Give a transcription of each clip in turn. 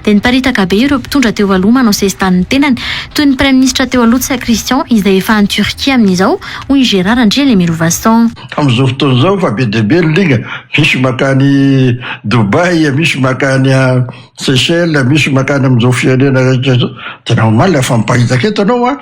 dia niparitaka be ireo mpitondra teo aloha manao sesitany ny tenany, toy ny praiminisitra teo aloha Tsa Christian izay efa any Turquie amin'izao, hoy i Gérard Andrianemirovason. Amin'izao fotoana izao efa be dia be ny liga, misy mankany Dubaï, misy mankany Seychelles, misy mankany amin'izao firenena tena omaly afa-miparitaka eto ianao an!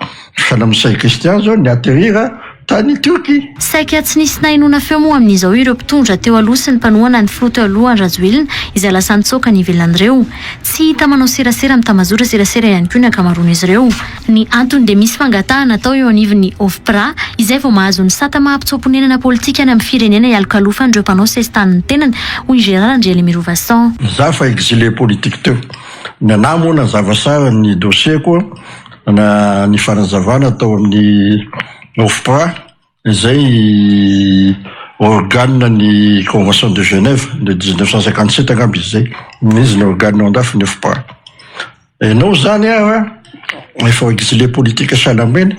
Salam Msay Christian zao ni atterrir tany Turquie. Saika tsy nisy nahenoana feo moa amin'izao ireo mpitondra teo aloha sy ny mpanohana ny filoha teo aloha Rajoelina izay lasa nitsoaka ny ivelan'ireo. Tsy hita manao serasera amin'ny tambazotra serasera ihany koa ny ankamaroan'izy ireo. Ny antony dia misy fangatahana atao eo anivon'ny OFPRA izay vao mahazo ny sata maha mpitsoa-ponenana politika any amin'ny firenena ialokalofan'ireo mpanao sesitany ny tenany, hoy i Gérard Andriailimirovason. Izaho fa exilé politique teo. Ny anah moa nazava sara ny dossier-ko. Nana ny fanazavana tao amin'ny OFPRA, izay organe ny Convention de Genève de 1957 angamba izy izay, izy no organe ao an-dafy ny OFPRA. Ianao izany ary efa exilé politique sahala aminy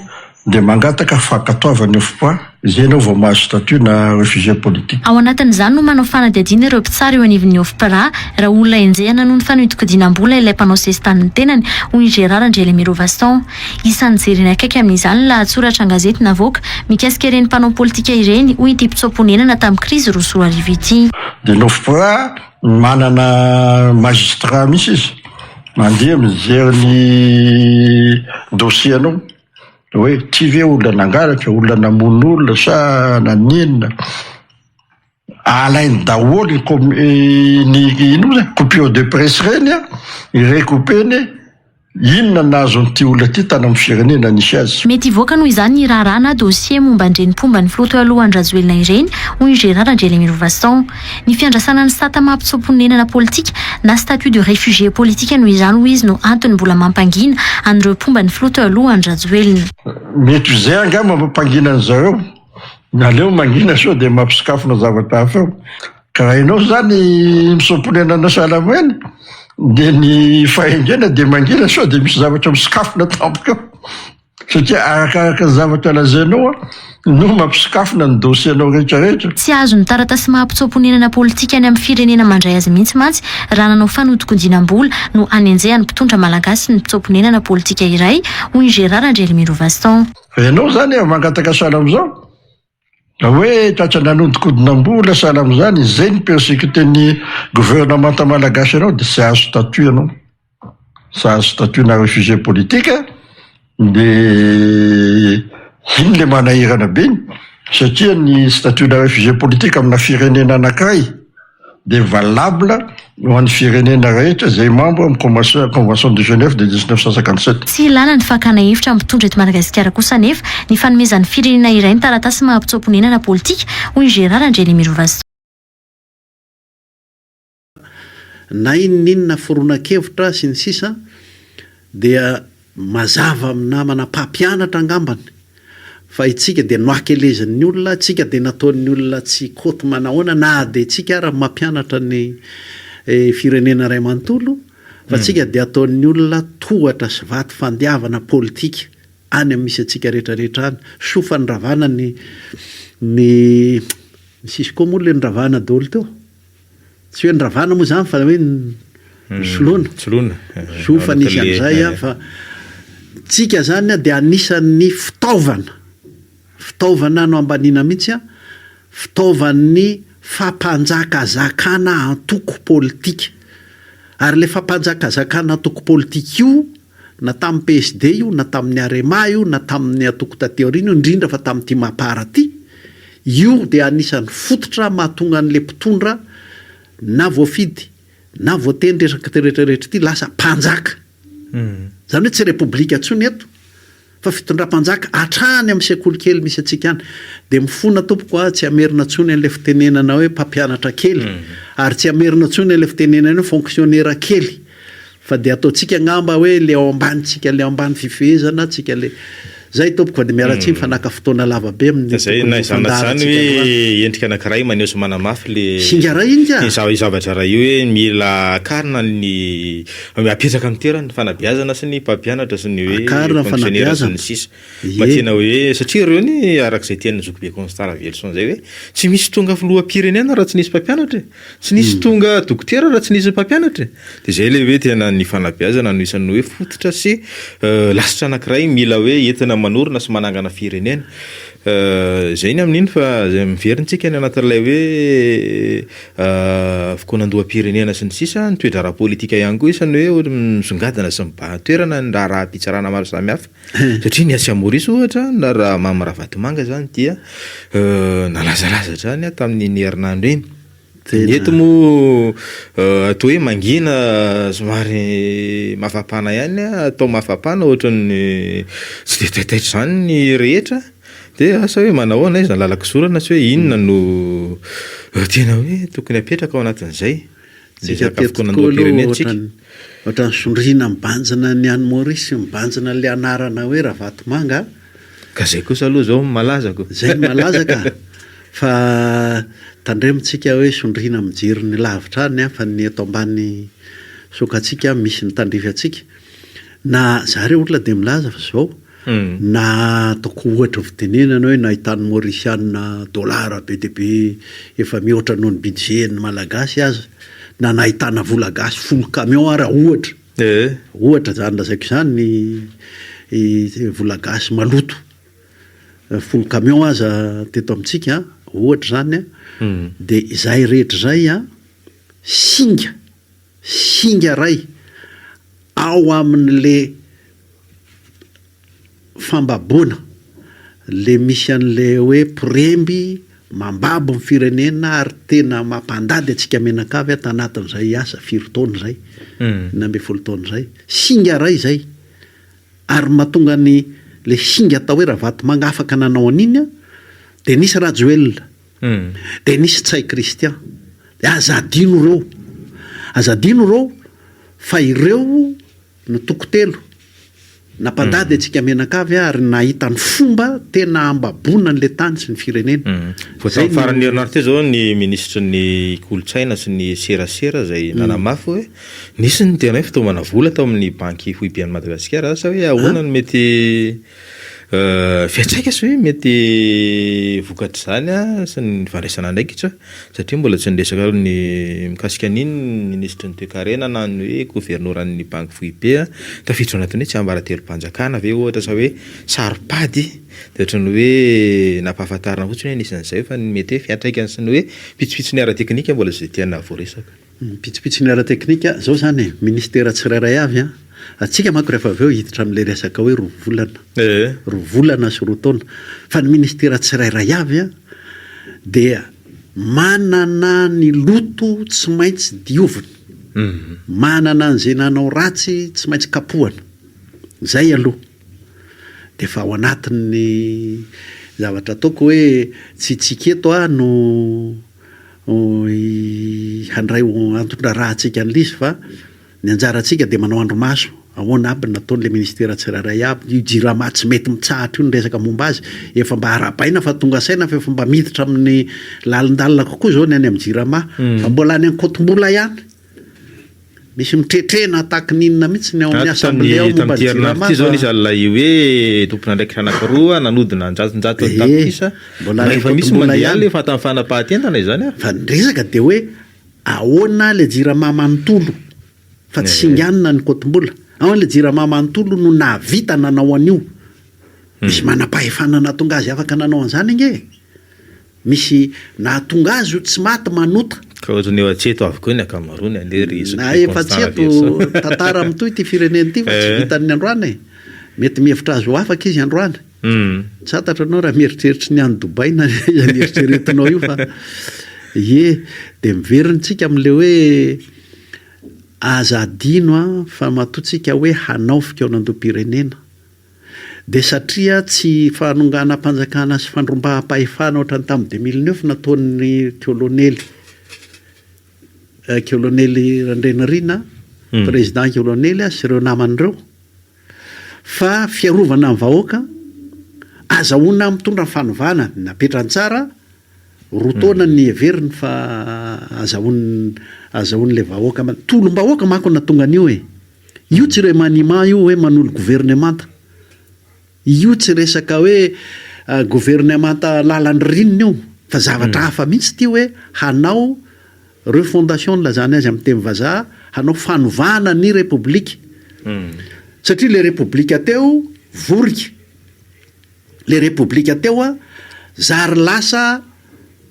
dia mangataka fankatoavan'ny OFPRA. Izay ianao vao mahazo statut na refugee politique. Ao anatin'izany no manao fanadihadiana ireo mpitsara eo anivon'ny OFPRA raha olona enjehina noho ny fanodikodianam-bola ilay mpanao sesitany ny tenany, hoy i Gérard Andrialemiro Vasson. Isan'ny jerena akaiky amin'izany ny lahatsoratra an-gazety navoaka mikasika ireny mpanao politika ireny, hoy ity mpitsoa-ponenana tamin'ny krizy roa sy roa arivo ity. Dia ny OFPRA manana magistrat mihitsy izy mandeha mijery ny dossier-nao. Hoe ty ve olona nangalatra, olona namono olona sa nanenina? Alainy daholo ny inona moa coupure de presse ireny an, i recoupeny inona nazon'ity olona ity tany amin'ny firenena nisy azy. Mety hivoaka noho izany ny raharaha na dossier momba an'ireny mpomba ny filoha teo aloha Andry Rajoelina ireny, hoy i Gérard Andrianemirovason. Ny fiandrasana ny sata maha mpitsoa-ponenana politika na statut de réfugié politique noho izany hoy izy no antony mbola mampangina an'ireo mpomba ny filoha teo aloha Andry Rajoelina. Mety ho izay angaha mampangina an'i zareo, ny aleo mangina sao dia mampisokafona zavatra hafa eo. Ka raha ianao izany mpisoa-ponenana sahala amin'ireny dia ny fahaingena dia mangina sao dia misy zavatra misokafona tampoka eo. Satria arakaraka ny zavatra lazainao no mampisokafona ny dossier-nao rehetra rehetra. Tsy azon'ny taratasy maha mpitsoa-ponenana politika any amin'ny firenena mandray azy mihitsy mantsy raha nanao fanodinkodinam-bola no hanenjehan'ny mpitondra malagasy ny mpitsoa-ponenana politika iray, hoy ny Gérard Andrielimirovaston. Fa ianao izany efa mangataka sahala amin'izao? Raha hoe tratra nanodinkodinam-bola sahala amin'izany ny zeny persecuter-n'ny gouvernemanta malagasy anao dia tsy hahazo statut ianao. Tsy hahazo statut-na réfugié politique dia iny ilay manahirana be satria ny statut-na réfugié politique amina firenena anankiray dia valable ho an'ny firenena rehetra izay mambra amin'ny Convention Convention de Genève de dix-neuf cent cinquante-sept. Tsy ilàna ny fakàna hevitra hampitondra eto Madagasikara kosa anefa ny fanomezan'ny firenena iray ny taratasy maha-mpitsoa-ponenana politika, hoy i Gérard Andrianemirovason. na inona inona foronan-kevitra sy ny sisa dia Mazava amin'ny namana mpampianatra angambany fa itsika dia noakelezin'ny olona, itsika dia nataon'ny olona tsy kôty manahoana na dia itsika ara mampianatra ny firenena iray manontolo fa itsika dia ataon'ny olona tohatra sy vato fandiavana politika any amin'ny misy antsika rehetra rehetra any, soa fa niravana ny ny nisy koa moa ilay niravana daholo teo. Tsy hoe ny ravana moa izany fa hoe ny soloana. Soloana. Zo fa nisy an'izay an, fa tsika izany an dia anisan'ny fitaovana, fitaovana no ambaniana mihitsy an, fitaovan'ny fampanjakazakana antoko politika. Ary ilay fampanjakazakana antoko politika io. na tamin'ny PSD io, na tamin'ny Arema io, na tamin'ny antoko taty aoriana io, indrindra fa tamin'ity Mapar ity, io dia anisan'ny fototra mahatonga an'ilay mpitondra na voafidy na voatendry erak'ity rehetra rehetra ity lasa mpanjaka. Izany hoe tsy repoblika intsony eto. Fa fitondram-panjaka hatrany amin'ny sekoly kely misy antsika any. Dia mifona tompoko aho tsy hamerina intsony an'ilay fitenenana hoe mpampianatra kely, ary tsy hamerina intsony an'ilay fitenenana hoe fonksionera kely. Fa dia ataontsika angamba hoe ilay ao ambany, tsika ilay ao ambany fifehezana, tsika ilay. Izay tompoko fa dia miala tsiny fa naka fotoana lava be amin'ny tokony ho fandaharantsika androany. Izay na izany na izany hoe endrika anankiray maneho sy manamafy ilay. Singa iray ingahy. Izao zavatra iray io hoe mila akarina ny. Mba apetraka amin'ny toerany ny fanabeazana sy ny mpampianatra sy ny hoe Akarina ny fonctionnaire sy ny fanabeazana. sisa Mba Ie. tena hoe satria ireo ny araka izay tian'ny zokibe Constant Raveloson izay hoe tsy misy tonga filoham-pirenena raha tsy nisy mpampianatra e! tsy nisy Hmm. tonga dokotera raha tsy nisy mpampianatra e! dia izay ilay hoe tena ny fanabeazana no isan'ny hoe fototra sy eh, lasitra anankiray mila hoe entina manorina sy manangana firenena Eh, izay ny amin'iny fa izay mivery antsika any anatin'ilay hoe fokonan-doham-pirenena sy ny sisa Ny toedraharaha politika ihany koa isany hoe ohatra misongadina sy mibahan-toerana ny raharaham-pitsarana maro samihafa satria ny atsy Maorisy ohatra ny raharaha Mamy Ravatomanga izany dia nalazalaza hatrany tamin'iny herinandro iny dia ny eto moa toa hoe mangina somary mafapana ihany atao mafapana ohatran'ny tsy dia taitaitra izany ny rehetra Dia asa hoe manahoana izy raha lalan-kizorana sy hoe inona no tena hoe tokony hapetraka ao anatin'izay ny resaka fikaonandoham-pirenentsika. Ohatran'ny zondriana mibanjina ny any Maurice mibanjina ilay anarana hoe Ravatomanga a! Ka izay kosa aloha izao no malaza ko! Izay no malaza ka! Fa tandremo tsika hoe zondriana mijery ny lavitra any a! Fa ny eto ambany sokatsika misy ny tandrify antsika. Na zareo olona dia milaza fa izao, Na ataoko ohatra fitenenana hoe nahitan'ny Maurisiana dollars be dia be efa mihoatra noho ny budget-n'ny Malagasy aza, na nahitana vola gasy folo camions ara ohatra, ohatra izany lazaiko izany, ny vola gasy maloto folo camions aza teto amintsika an, ohatra izany an, dia izay rehetra izay an, singa. singa ray ao aminy le fambabona le misy any le hoe poremby mambabo ny firenena ary tena mampandady atsika menakavy ato anatiny zay asa firy taona zay enina ambin'ny folo taona zay singa ray zay ary matonga any le singa atao hoe ravatomanga afaka nanao an'iny a de nisy rajoelina Dia nisy Tsay Christian. Dia aza adino ireo. Aza adino ireo fa ireo no toko telo nampandady antsika mianakavy ary nahita ny fomba tena ambaboana an'ilay tany sy ny firenena. Vao tamin'ny faran'ny herinandro teo izao ny minisitry ny kolontsaina sy ny serasera izay nanamafy hoe nisy ny tena hoe fitaomana vola tao amin'ny banky foiben'i Madagasikara. Asa hoe ahoana no mety Fiantraika sa hoe mety vokatr'izany sy ny fandraisana andraikitra satria mbola tsy niresaka aloha ny mikasika an'iny ny minisitry ny toekarena na ny hoe governoran'ny banky foibe an, tafiditra ao anatin'ny hoe tsiambaratelom-panjakana ve ohatra sa hoe saro-pady dia ohatran'ny hoe nampahafantarina fotsiny hoe nisy an'izay fa ny mety hoe fiantraikany sy ny hoe pitsopitsony ara-teknika mbola tsy dia tiana voaresaka. Ny pitsopitsony ara-teknika izao izany e, ministera tsirairay avy an, antsika manko rehefa avy eo hiditra amin'ilay resaka hoe roa volana, roa volana sy roa taona, fa ny ministera tsirairay avy an dia manana ny loto tsy maintsy diovina, manana an'izay nanao ratsy tsy maintsy kapohana, izay aloha dia efa ao anatin'ny zavatra ataoko hoe tsy hitsika eto aho no. handray ho anton-draharaha antsika an'ilay izy fa ny anjarantsika dia manao andrimaso ahoana aby ny nataon'ilay ministera tsirairay aby, io jirama tsy mety mitsahatra io ny resaka momba azy, efa mba arahabaina fa tonga saina fa efa mba miditra amin'ny lalindalina kokoa izao ny any amin'ny jirama, fa mbola any Ankotombola ihany. Misy mitretrena attaque n'inona mihitsy ny ao amin'ny assemblée ao momba ny jirama fa. Zao nisy an'ilay hoe tompon'andraikitra anankiroa nanodina an-jatonjato ny tapitrisa. Mbola any am-potombola ihany. Efa tamin'ny fanapahan-tendana izany an. Fa ny resaka dia hoe ahoana ilay jirama manontolo fa tsy singanina ny kotombola. Ahoana ilay jirama manontolo no nahavita nanao an'io. Misy manam-pahefana nahatonga azy afaka nanao an'izany ange e. Misy nahatonga azy io tsy maty manota. Ka ohatrany efa tsy eto avokoa ny ankamaroany anie ry Jean Pierre Constant Raveloson. Na efa tsy eto tantara mitohy ity firenena ity fa tsy vitan'ny androany e! Mety mihevitra azy ho afaka izy androany. Tsy fantatra ianao raha mieritreritra ny any Dubai na iza no eritreretinao io fa ie dia miverina tsika amin'ilay hoe aza adino an fa matoa tsika hoe hanao fikaonandoham-pirenena. dia satria tsy fanonganam-panjakana sy fandrombaham-pahefana ohatran'ny tamin'ny deux mille neuf nataon'ny kolonely kolonely Randrianarina président kolonely sy ireo namany ireo fa fiarovana ny vahoaka azahoana mitondra ny fanovana napetrany tsara roa taona ny heveriny fa azahoany azahoan'ilay vahoaka tolom-bahoaka manko no nahatonga an'io e Io tsy remaniement io hoe manolo governemanta. Io tsy resaka hoe governemanta lalan'ny rinina io fa zavatra hafa mihitsy ity hoe hanao refondation nilazany azy amin'ny teny vazaha, hanao fanovana ny repoblika. Satria ilay repoblika teo vorika. Ilay repoblika teo zary lasa.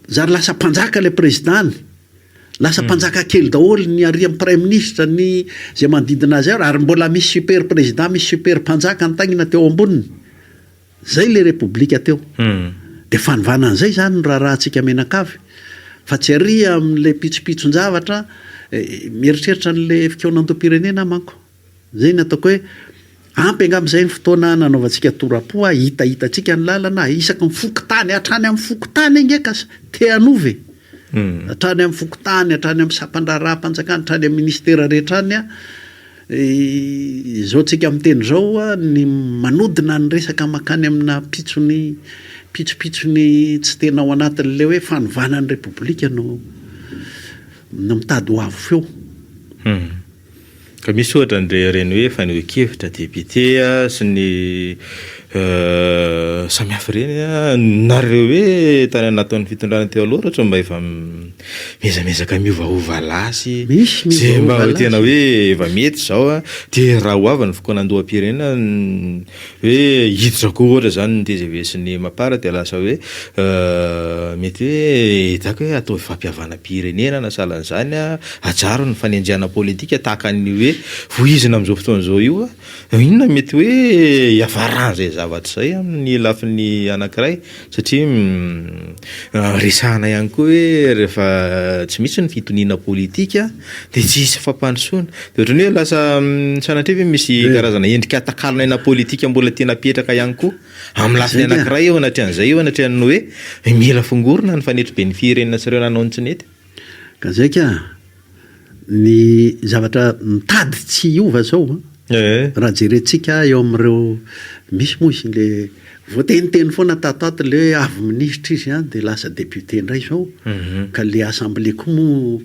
Zary lasa mpanjaka ilay president, lasa mpanjaka kely daholo ny arian'ny praiminisitra, ny izay manodidina azy ary, ary mbola misy super president, misy super mpanjaka nitaingina teo amboniny. Izay ilay repoblika teo. Dia fanovana an'izay izany no raharahantsika mianakavy. Fa tsy àry amin'ilay pitsopitson-javatra, mieritreritra an'ilay fikaonandoham-pirenena aho manko. Izay no ataoko hoe ampy angamba izay ny fotoana nanaovantsika tora-po a, hitahitantsika ny lalana a, isaky ny fokontany, hatrany amin'ny fokontany ange ka te hanova e, hatrany amin'ny fokontany, hatrany amin'ny sampan-draharaham-panjakana, hatrany amin'ny ministera rehetra any a, izao tsika miteny izao a, ny manodina ny resaka mankany amina pitsony pitsopitsony tsy tena ao anatin'ilay hoe fanovana ny repoblika no no mitady ho avo feo. Ka misy ohatra ny rehareiny hoe fanehoan-kevitra député sy ny samy hafa ireny an, nareo hoe tany anatin'ny fitondrana teo aloha ohatra mba efa mihezamihezaka miovaova lahy sy izay mba tena hoe efa mety izao an, dia raha ho avy ny fokonan-doham-pirenena Hoe hiditra koa ohatra izany ny tgv sy ny mapar dia lasa hoe mety hoe ezaka hoe ataovy fampihavanam-pirenena na sahala an'izany an, ajaro ny fanenjehana politika tahaka ny hoe vohizina amin'izao fotoana izao io an, inona mety hoe hiafaràn'izay zavatra izay amin'ny lafiny anankiray? Satria resahana ihany koa hoe rehefa tsy misy ny fitoniana politika dia tsy hisy fampandrosoana. Dia ohatran'ny hoe lasa sanatria ve misy karazana endrika takalon'ny aina politika mbola tia napetraka ihany koa amin'ny lafiny anankiray eo anatrehan'izay eo anatrehan'ny hoe mila fongorina ny fanetriben'ny firenena sy ireo nanao ny tsy nety. Ka zay ka! Ny zavatra mitady tsy hiova zao an! Raha jerentsika eo amin'ireo, misy moa izy le voateniteny foana tato ato le hoe avy minisitra izy an! dia lasa député indray zao, ka le assemblée koa moa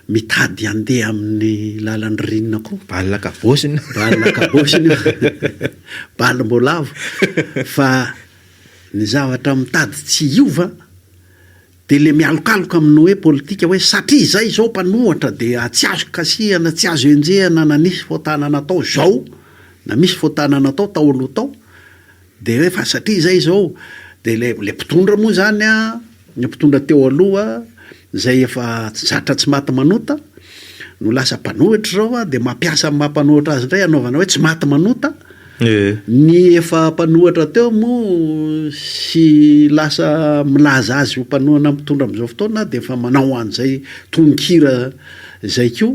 mitady handeha amin'ny lalan'ny rinina koa. Bal an-kabôsina! Bal an-kabôsina io! Bal mbola avo! Fa ny zavatra mitady tsy hiova an! Dia le mialokaloka amin'ny hoe politika hoe satria izay izao mpanohatra dia tsy azo kasihana, tsy azo enjehana na nisy fotana natao izao na misy fotana natao tao aloha tao dia hoe fa satria izay izao dia le le mpitondra moa izany an, le mpitondra teo aloha izay efa tsy zatra tsy maty manota no lasa mpanohitra izao an dia mampiasa ny maha mpanohitra azy indray anaovana hoe tsy maty manota. Ny efa mpanohatra teo moa sy lasa milaza azy ho mpanohana mpitondra amin'izao fotoana dia efa manao an'izay tononkira izay koa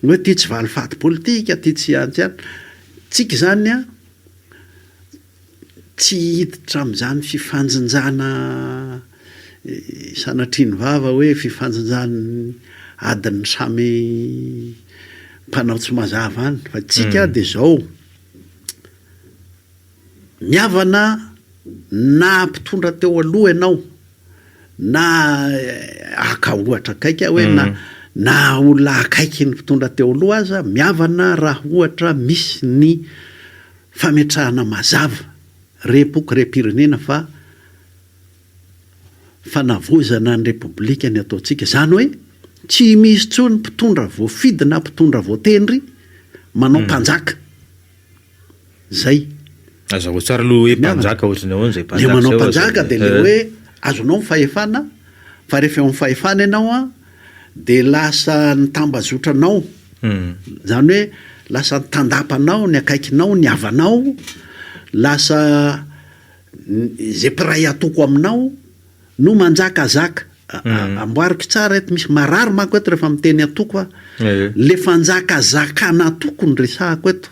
hoe ity tsy valifaty politika, ity tsy an, tsy an. Tsika izany an, tsy hiditra amin'izany fifanjinjana. Sanatria ny vava hoe fifanjinjan'ny adin'ny samy mpanao tsy mazava any. Fa tsika dia zao, ny havana na mpitondra teo aloha ianao na haka ohatra akaiky aho hoe na na olona akaiky ny mpitondra teo aloha aza mihavana raha ohatra misy ny fametrahana mazava rem-poko rem-pirenena fa fanavaozana ny Repoblika ny ataontsika, izany hoe tsy misy intsony mpitondra voafidy na mpitondra voatendry manao mpanjaka. Izay. Hazavao tsara aloha hoe mpanjaka ohatry ny ahoana izay mpanjaka izay. Ilay manao mpanjaka dia ilay hoe azonao ny fahefana fa rehefa eo amin'ny fahefana ianao dia lasa ny tambazotranao, izany hoe lasa ny tandapanao, ny akaikinao, ny havanao, lasa. Izay mpiray atoko aminao no manjakazaka. Amboariko tsara eto, misy marary manko eto rehefa miteny atoko aho. Ilay fanjakazakan'atoko no resahako eto.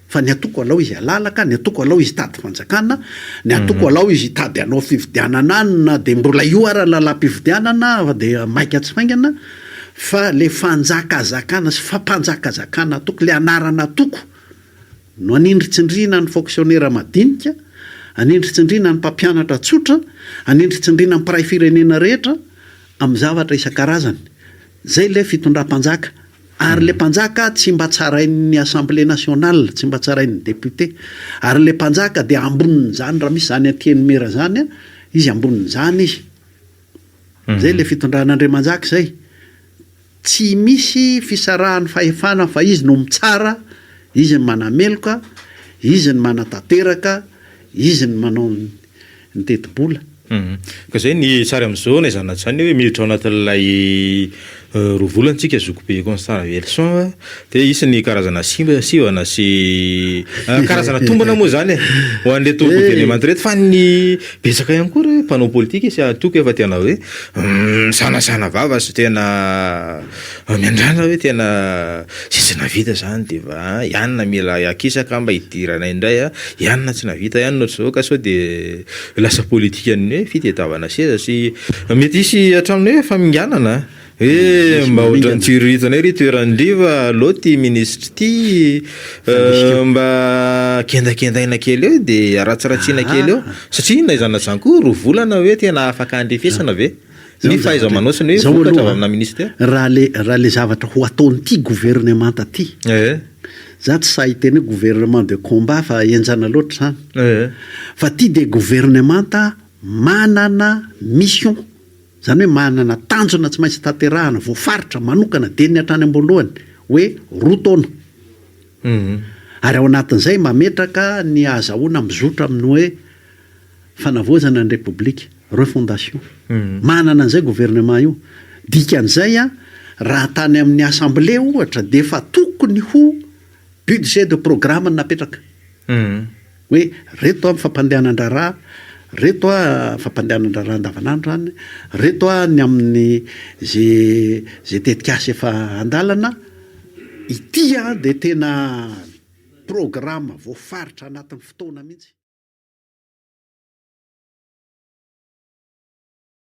Fa ny atoko alao izy halala ka, ny atoko alao izy hitady fanjakana, ny atoko alao izy hitady hanao fifidianana any na dia mbola io ara ny lalam-pifidianana fa dia maika tsy faingana. Fa ilay fanjakazakana sy fampanjakazakana atoko, ilay anaran'atoko. no anindritsindriana ny fonksionera madinika, anindritsindriana ny mpampianatra tsotra, anindritsindriana ny mpiray firenena rehetra amin'ny zavatra isan-karazany. Izay ilay fitondram-panjaka. Ary ilay mpanjaka tsy mba tsarain'ny Assemblée nationale, tsy mba tsarain'ny député. Ary ilay mpanjaka dia ambonin'izany, raha misy izany antienimera izany, izy ambonin'izany izy. Izay ilay fitondran'Andriamanjaka izay. Tsy misy fisarahan'ny fahefana fa izy no mitsara, izy no manameloka, izy no manatanteraka, izy no manao ny tetibola. Ka zay ny sary amizao na izany na izany hoe miditra ao anatin'ilay roa volana tsika zokibe Constant Ravelison Dia hisy ny karazana sivana sy karazana tombana moa izany e, ho an'ireto governemanta ireto. Fa ny betsaka ihany koa ry mpanao politika sy antoko efa tena hoe misanasana vava sy tena miandrandra hoe tena sisa nahavita izany dia efa an, ianona mila akisaka mba hidirana indray an, ianona tsy nahavita, ianona ohatr'izao ka sao dia lasa politikan'ny hoe fitadiavana seza sy mety hisy hatramin'ny hoe faminganana an. Eh, mba ohatran'ny tsiriritana ery toeran-driva allo ty minisitra ity eh, mba kendakendaina kely eo de aratsiratsiana kely eo ah. satria na izany na izany koa roa volana hoe tena afaka andrefesana ve ah. ny fahaiza-manaosany hoe vokatra avy amina minisitra raha le raha le zavatra ho ataon'ity gouvernemanta ty eh. za tsy sahy teny hoe gouvernement de combat fa enjana loatra zany eh. fa ty de gouvernemanta manana mission Izany hoe manana tanjona tsy maintsy tanterahana, voafaritra, manokana, dieny hatrany am-boalohany, hoe roa taona. Ary ao anatin'izay mametraka ny hahazahoana mizotra amin'ny hoe fanavaozana ny Repoblika, refondation. Manana an'izay gouvernement io. Dikan'izay, raha tany amin'ny Assemblée, ohatra, dia efa tokony ho budget de programme no napetraka. Hoe reto an fampandehanan-draharaha, reto an fampandehanan-draharaha andavanandro zany, reto an ny amin'ny ze ze tetikasa efa an-dalana, ity an dia tena programa voafaritra anatin'ny fotoana mihitsy.